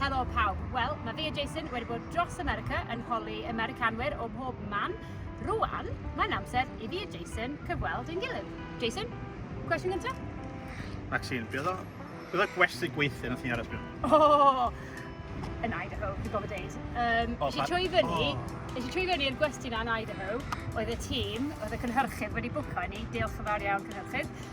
Helo pawb. Wel, mae fi a Jason wedi bod dros America yn holi Americanwyr o mhob man. Rwan, mae'n amser i fi a Jason cyfweld yn gilydd. Jason, cwestiwn gyntaf? Maxine, beth o... Beth o gwesti gweithio nath ni aros byw? Oh, yn Idaho, dwi'n gofod deud. Um, oh, eisiau trwy fyny, oh. eisiau trwy fyny i'r gwesti na yn Idaho, oedd y tîm, oedd y cynhyrchydd wedi bwco ni, diolch yn fawr iawn cynhyrchydd,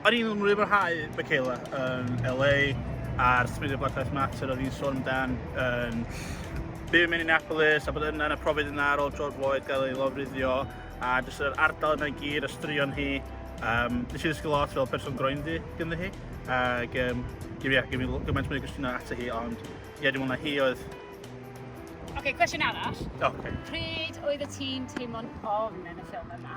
O'n i'n mwynhau Michaela yn LA a'r symuddiad Black Lives Matter oedd hi'n sôn amdan yn byw yn Minneapolis a bod yna yn y profiad yna ar ôl George Floyd gael ei lofruddio a jyst yr ardal yna'n gyd, y straeon hi. Um, nes i ddysgu lot fel person groenddu gyda hi ac um, gym i, gym i gymaint mwy o gwestiynau ato hi ond ie, dwi'n mwynhau hi oedd Oce, okay, cwestiwn arall. Oce. Okay. Pryd oedd y tîm teimlo'n ofn yn y ffilm yma?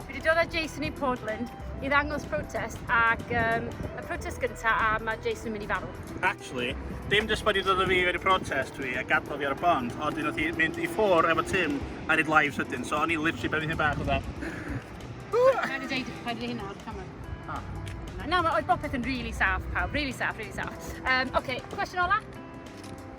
Fi wedi dod â Jason i Portland i ddangos protest ac um, y protest gyntaf a mae Jason yn mynd i farw. Actually, dim jyst bod i ddod o fi wedi protest dwi a gadael fi ar y bond, ond un oedd hi mynd i ffwr efo Tim a rhaid live sydyn, so o'n i literally ben hyn bach o dda. Rhaid i ddeud, rhaid i hynna o'r camera. Ah. Na, mae oedd bopeth yn really saff pawb, really saff, really saff. Um, Oce, okay, cwestiwn ola?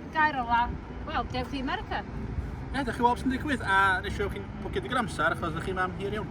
Y gair ola, wel, dewch i America. Ie, dewch i weld sy'n digwydd, a nes i weld chi'n bwcio digon amser, achos ydych chi'n mam hir iawn.